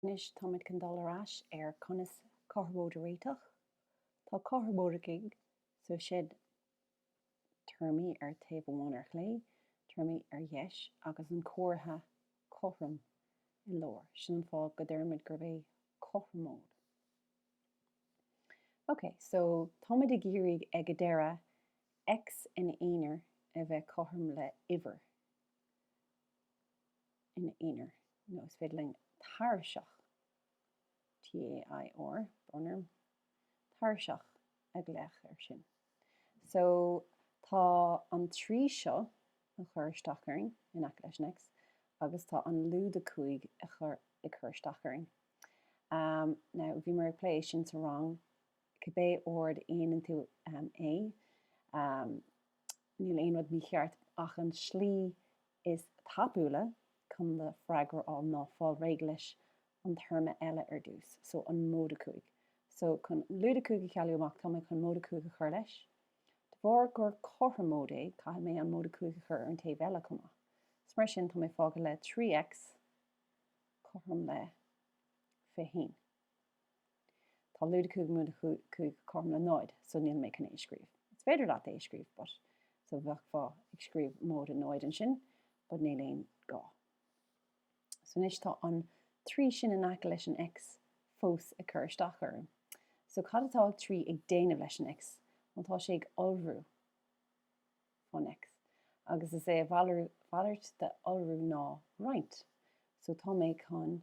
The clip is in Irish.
Anois táimid chun dul ar ais ar conas cothromóid a réiteach. Tá cothromóid agaibh so is iad téarmaí ar taobh amháin ar chlé, téarmaí ar dheis, agus an comhartha cothrom i lár. Sin an fáth go deirimid gurb é cothromóid. Ok, so táimid ag iarraidh ag an deireadh X ina aonar a bheith cothrom le uimhir. ina aonar nó is féidir linn tairiseach, TAIR, brón orm, tairiseach, a ghlaoch air sin. So, tá an 3 seo a chur isteach orainn in aice leis an X agus tá an lúide 5 a chur, ag cur isteach orainn. Now, bhíomar ag plé é sin sa rang, cibé ord a dhéanann tú é, níl aon rud mícheart ach an slí is tapúla chun do freagra a fháil ná fáil réidh leis an téarma eile ar dtús, so, an móide 5. So, chun lúide 5 a chealú amach, tá mé chun móide 5 a chur leis. De bharr gur cothromóid é, caithfidh mé an móide 5 a chur ar an taobh eile chomh maith. So, mar sin, tá mé fágtha le 3X cothrom le 21. Tá lúide 5 móide 5 cothrom le 0, so níl mé chun é a scríobh. Is féidir leat é a scríobh but so bheadhfá ag scríobh móide 0 ansin but níl aon gá. So anois tá an 3 sin in aice leis an X fós ag cur isteach orm. So cad atá an 3 ag déanamh leis an X? Well tá sé ag iolrú fán X agus is é a mhalairt de iolrú ná roinnt. So tá mé chun.